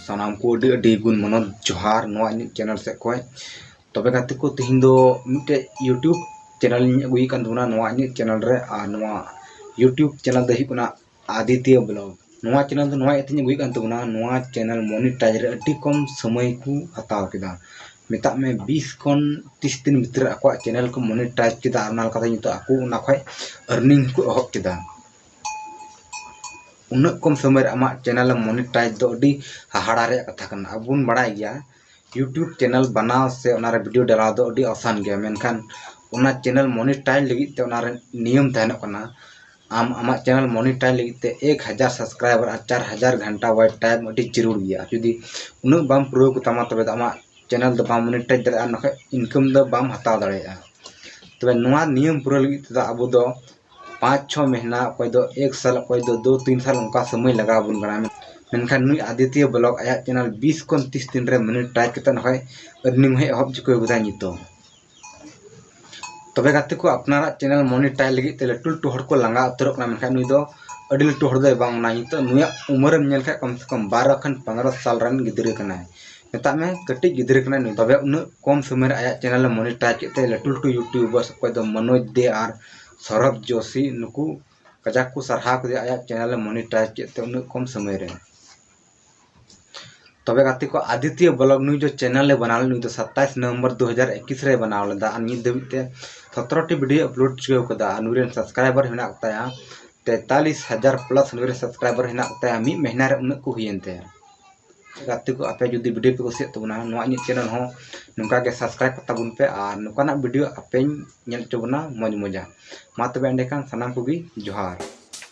ᱥᱟᱱᱟᱢ ᱠᱚ ᱟᱹᱰᱤ ᱟᱹᱰᱤ ᱜᱩᱱ ᱢᱚᱱᱚᱛ ᱡᱚᱦᱟᱨ ᱱᱚᱣᱟ ᱤᱧᱟᱹᱜ ᱪᱮᱱᱮᱞ ᱥᱮᱫ ᱠᱷᱚᱱ ᱛᱚᱵᱮ ᱜᱟᱛᱮ ᱠᱚ ᱛᱮᱦᱮᱧ ᱫᱚ ᱢᱤᱫᱴᱮᱡ ᱤᱭᱩᱴᱩᱵᱽ ᱪᱮᱱᱮᱞ ᱤᱧ ᱟᱹᱜᱩᱭᱮᱫ ᱠᱟᱱ ᱛᱟᱵᱚᱱᱟ ᱱᱚᱣᱟ ᱤᱧᱟᱹᱜ ᱪᱮᱱᱮᱞ ᱨᱮ ᱟᱨ ᱱᱚᱣᱟ ᱤᱭᱩᱴᱩᱵᱽ ᱪᱮᱱᱮᱞ ᱫᱚ ᱦᱩᱭᱩᱜ ᱠᱟᱱᱟ ᱟᱫᱤᱛᱭᱚ ᱵᱞᱚᱜ ᱱᱚᱣᱟ ᱪᱮᱱᱮᱞ ᱫᱚ ᱱᱚᱣᱟ ᱤᱭᱟᱹᱛᱮᱧ ᱟᱹᱜᱩᱭᱮᱫ ᱠᱟᱱ ᱛᱟᱵᱚᱱᱟ ᱱᱚᱣᱟ ᱪᱮᱱᱮᱞ ᱢᱚᱱᱤᱴᱟᱭᱤᱡᱽ ᱨᱮ ᱟᱹᱰᱤ ᱠᱚᱢ ᱥᱚᱢᱚᱭ ᱠᱚ ᱦᱟᱛᱟᱣ ᱠᱮᱫᱟ ᱢᱮᱛᱟᱜ ᱢᱮ ᱵᱤᱥ ᱠᱷᱚᱱ ᱛᱤᱥ ᱫᱤᱱ ᱵᱷᱤᱛᱨᱤ ᱟᱠᱚᱣᱟᱜ ᱪᱮᱱᱮᱞ ᱠᱚ ᱢᱚᱱᱤᱴᱟᱭᱤᱡᱽ ᱠᱮᱫᱟ ᱟᱨ ᱚᱱᱟ ᱞᱮᱠᱟᱛᱮ ᱱᱤᱛᱚᱜ ᱟᱠᱚ ᱚᱱᱟ ᱠᱷᱚᱡ ᱟᱨᱱᱤᱝ ᱠᱚ ᱮᱦᱚᱵ ᱠᱮᱫᱟ ᱩᱱᱟᱹᱜ ᱠᱚᱢ ᱥᱚᱢᱚᱭ ᱨᱮ ᱟᱢᱟᱜ ᱪᱮᱱᱮᱞ ᱢᱚᱱᱤᱴᱟᱭᱤᱡᱽ ᱫᱚ ᱟᱹᱰᱤ ᱦᱟᱦᱟᱲᱟ ᱨᱮᱭᱟᱜ ᱠᱟᱛᱷᱟ ᱠᱟᱱᱟ ᱟᱵᱚ ᱵᱚᱱ ᱵᱟᱲᱟᱭ ᱜᱮᱭᱟ ᱤᱭᱩᱴᱩᱵᱽ ᱪᱮᱱᱮᱞ ᱵᱟᱱᱟᱣ ᱥᱮ ᱚᱱᱟᱨᱮ ᱵᱷᱤᱰᱤᱭᱳ ᱰᱟᱞᱟᱣ ᱫᱚ ᱟᱹᱰᱤ ᱟᱥᱟᱱ ᱜᱮᱭᱟ ᱢᱮᱱᱠᱷᱟᱱ ᱚᱱᱟ ᱪᱮᱱᱮᱞ ᱢᱚᱱᱤᱴᱟᱭᱤᱡᱽ ᱞᱟᱹᱜᱤᱫ ᱛᱮ ᱚᱱᱟᱨᱮ ᱱᱤᱭᱚᱢ ᱛᱟᱦᱮᱱᱚᱜ ᱠᱟᱱᱟ ᱟᱢ ᱟᱢᱟᱜ ᱪᱮᱱᱮᱞ ᱢᱚᱱᱤᱴᱟᱭ ᱞᱟᱹᱜᱤᱫ ᱛᱮ ᱮᱠ ᱦᱟᱡᱟᱨ ᱥᱟᱵᱥᱠᱨᱟᱭᱵᱟᱨ ᱟᱨ ᱪᱟᱨ ᱦᱟᱡᱟᱨ ᱜᱷᱟᱱᱴᱟ ᱣᱟᱪ ᱴᱟᱭᱤᱢ ᱟᱹᱰᱤ ᱡᱟᱹᱨᱩᱲ ᱜᱮᱭᱟ ᱟᱨ ᱡᱩᱫᱤ ᱩᱱᱟᱹᱜ ᱵᱟᱢ ᱯᱩᱨᱟᱹᱣ ᱠᱚᱛᱟᱢᱟ ᱛᱚᱵᱮ ᱫᱚ ᱟᱢᱟᱜ ᱪᱮᱱᱮᱞ ᱫᱚ ᱵᱟᱢ ᱢᱚᱱᱤᱴᱟᱭ ᱫᱟᱲᱮᱭᱟᱜᱼᱟ ᱟᱨ ᱵᱟᱠᱷᱟᱡ ᱤᱱᱠᱟᱢ ᱫᱚ ᱵᱟᱢ ᱦᱟᱛᱟᱣ ᱫᱟᱲᱮᱭᱟᱜᱼᱟ ᱛᱚᱵᱮ ᱱᱚᱣᱟ ᱱᱤᱭᱚᱢ ᱯᱩᱨᱟᱹᱣ ᱞᱟᱹᱜᱤᱫ ᱛᱮᱫᱚ ᱟᱵᱚ ᱫᱚ ᱯᱟᱸᱪ ᱪᱷᱚ ᱢᱟᱹᱦᱱᱟᱹ ᱚᱠᱚᱭ ᱫᱚ ᱮᱠ ᱥᱟᱞ ᱚᱠᱚᱭ ᱫᱚ ᱫᱩ ᱛᱤᱱ ᱥᱟᱞ ᱚᱱᱠᱟ ᱥᱚᱢᱚᱭ ᱞᱟᱜᱟᱣ ᱟᱵᱚᱱ ᱠᱟᱱᱟ ᱢᱮᱱᱠᱷᱟᱱ ᱱᱩᱭ ᱟᱫᱤᱛᱭᱚ ᱵᱞᱚᱜᱽ ᱟᱭᱟᱜ ᱪᱮᱱᱮᱞ ᱵᱤᱥ ᱠᱷᱚᱱ ᱛᱤᱥ ᱫᱤᱱ ᱨᱮ ᱢᱚᱱᱤᱴᱟᱭᱤᱡᱽ ᱠᱟᱛᱮᱫ ᱱᱚᱜᱼᱚᱭ ᱟᱨᱱᱤᱝ ᱦᱚᱸᱭ ᱮᱦᱚᱵ ᱪᱩᱠᱟᱹᱣ ᱠᱟᱫᱟ ᱱᱤᱛᱚᱜ ᱛᱚᱵᱮ ᱜᱟᱛᱮ ᱠᱚ ᱟᱯᱱᱟᱨᱟᱜ ᱪᱮᱱᱮᱞ ᱢᱚᱱᱤᱴᱟᱭ ᱞᱟᱹᱜᱤᱫ ᱛᱮ ᱞᱟᱹᱴᱩ ᱞᱟᱹᱴᱩ ᱦᱚᱲ ᱠᱚ ᱞᱟᱸᱜᱟ ᱩᱛᱟᱹᱨᱚᱜ ᱠᱟᱱᱟ ᱢᱮᱱᱠᱷᱟᱱ ᱱᱩᱭ ᱫᱚ ᱟᱹᱰᱤ ᱞᱟᱹᱴᱩ ᱦᱚᱲ ᱫᱚᱭ ᱵᱟᱝ ᱠᱟᱱᱟ ᱱᱤᱛᱚᱜ ᱱᱩᱭᱟᱜ ᱩᱢᱮᱨᱮᱢ ᱧᱮᱞ ᱠᱷᱟᱱ ᱠᱚᱢ ᱥᱮ ᱠᱚᱢ ᱵᱟᱨᱚ ᱠᱷᱚᱱ ᱯᱚᱱᱨᱚ ᱥᱟᱞ ᱨᱮᱱ ᱜᱤᱫᱽᱨᱟᱹ ᱠᱟᱱᱟᱭ ᱢᱮᱛᱟᱜ ᱢᱮ ᱠᱟᱹᱴᱤᱡ ᱜᱤᱫᱽᱨᱟᱹ ᱠᱟᱱᱟᱭ ᱱᱩᱭ ᱛᱚᱵᱮ ᱩᱱᱟᱹᱜ ᱠᱚᱢ ᱥᱚᱢᱚᱭ ᱨᱮ ᱟᱭᱟᱜ ᱪᱮᱱᱮᱞ ᱮ ᱢᱚᱱᱤᱴᱟᱭ ᱠᱮᱫ ᱛᱮ ᱞᱟᱹᱴᱩ ᱞᱟᱹᱴᱩ ᱤᱭᱩᱴᱩᱵᱟᱨᱥ ᱚᱠᱚᱭ ᱫᱚ ᱢᱚᱱᱳᱡᱽ ᱫᱮ ᱟᱨ ᱥᱚᱨᱚᱵᱽ ᱡᱳᱥᱤ ᱱᱩᱠᱩ ᱠᱟᱡᱟᱠ ᱠᱚ ᱥᱟᱨᱦᱟᱣ ᱠᱮᱫᱮᱭᱟ ᱟᱭᱟᱜ ᱪᱮᱱᱮᱞ ᱮ ᱢᱚᱱᱤᱴᱟᱭ ᱠᱮᱫ ᱛᱮ ᱩᱱᱟᱹᱜ ᱠᱚᱢ ᱥᱚᱢᱚᱭ ᱨᱮ ᱛᱚᱵᱮ ᱜᱟᱛᱮ ᱠᱚ ᱟᱫᱤᱛᱭᱚ ᱵᱞᱚᱜ ᱱᱩᱭ ᱫᱚ ᱪᱮᱱᱮᱞ ᱮ ᱵᱮᱱᱟᱣ ᱞᱮᱫᱟ ᱱᱩᱭ ᱫᱚ ᱥᱟᱛᱟᱥ ᱱᱚᱵᱷᱮᱢᱵᱚᱨ ᱫᱩ ᱦᱟᱡᱟᱨ ᱮᱠᱤᱥ ᱨᱮ ᱵᱮᱱᱟᱣ ᱞᱮᱫᱟ ᱟᱨ ᱱᱤᱛ ᱫᱷᱟᱹᱵᱤᱡ ᱛᱮ ᱥᱚᱛᱨᱚᱴᱤ ᱵᱷᱤᱰᱤᱭᱳ ᱟᱯᱞᱳᱰ ᱪᱩᱠᱟᱹᱣ ᱠᱟᱫᱟ ᱟᱨ ᱱᱩᱭ ᱨᱮᱱ ᱥᱟᱵᱥᱠᱨᱟᱭᱵᱟᱨ ᱢᱮᱱᱟᱜ ᱠᱚᱛᱟᱭᱟ ᱛᱮᱛᱟᱞᱤᱥ ᱦᱟᱡᱟᱨ ᱯᱞᱟᱥ ᱱᱩᱭ ᱨᱮᱱ ᱥᱟᱵᱥᱠᱨᱟᱭᱵᱟᱨ ᱢᱮᱱᱟᱜ ᱠᱚᱛᱟᱭᱟ ᱢᱤᱫ ᱢᱟᱹᱦᱱᱟᱹ ᱨᱮ ᱩᱱᱟᱹᱜ ᱠᱚ ᱦᱩᱭᱮᱱ ᱛᱟᱭᱟ ᱜᱟᱛᱮ ᱠᱚ ᱟᱯᱮ ᱡᱩᱫᱤ ᱵᱷᱤᱰᱤᱭᱳ ᱯᱮ ᱠᱩᱥᱤᱭᱟᱜ ᱛᱟᱵᱚᱱᱟ ᱱᱚᱣᱟ ᱤᱧᱟᱹᱜ ᱪᱮᱱᱮᱞ ᱦᱚᱸ ᱱᱚᱝᱠᱟ ᱜᱮ ᱥᱟᱵᱥᱠᱨᱟᱭᱤᱵ ᱠᱟᱛᱟ ᱵᱚᱱ ᱯᱮ ᱟᱨ ᱱᱚᱝᱠᱟᱱᱟᱜ ᱵᱷᱤᱰᱤᱭᱳ ᱟᱯᱮᱧ ᱧᱮᱞ ᱦᱚᱪᱚ ᱵᱚᱱᱟ ᱢᱚᱡᱽ ᱢᱚᱡᱟ ᱢᱟ ᱛᱚᱵᱮ ᱮᱸᱰᱮᱠᱷᱟᱱ ᱥᱟᱱᱟᱢ ᱠᱚᱜᱮ ᱡᱚᱦᱟᱨ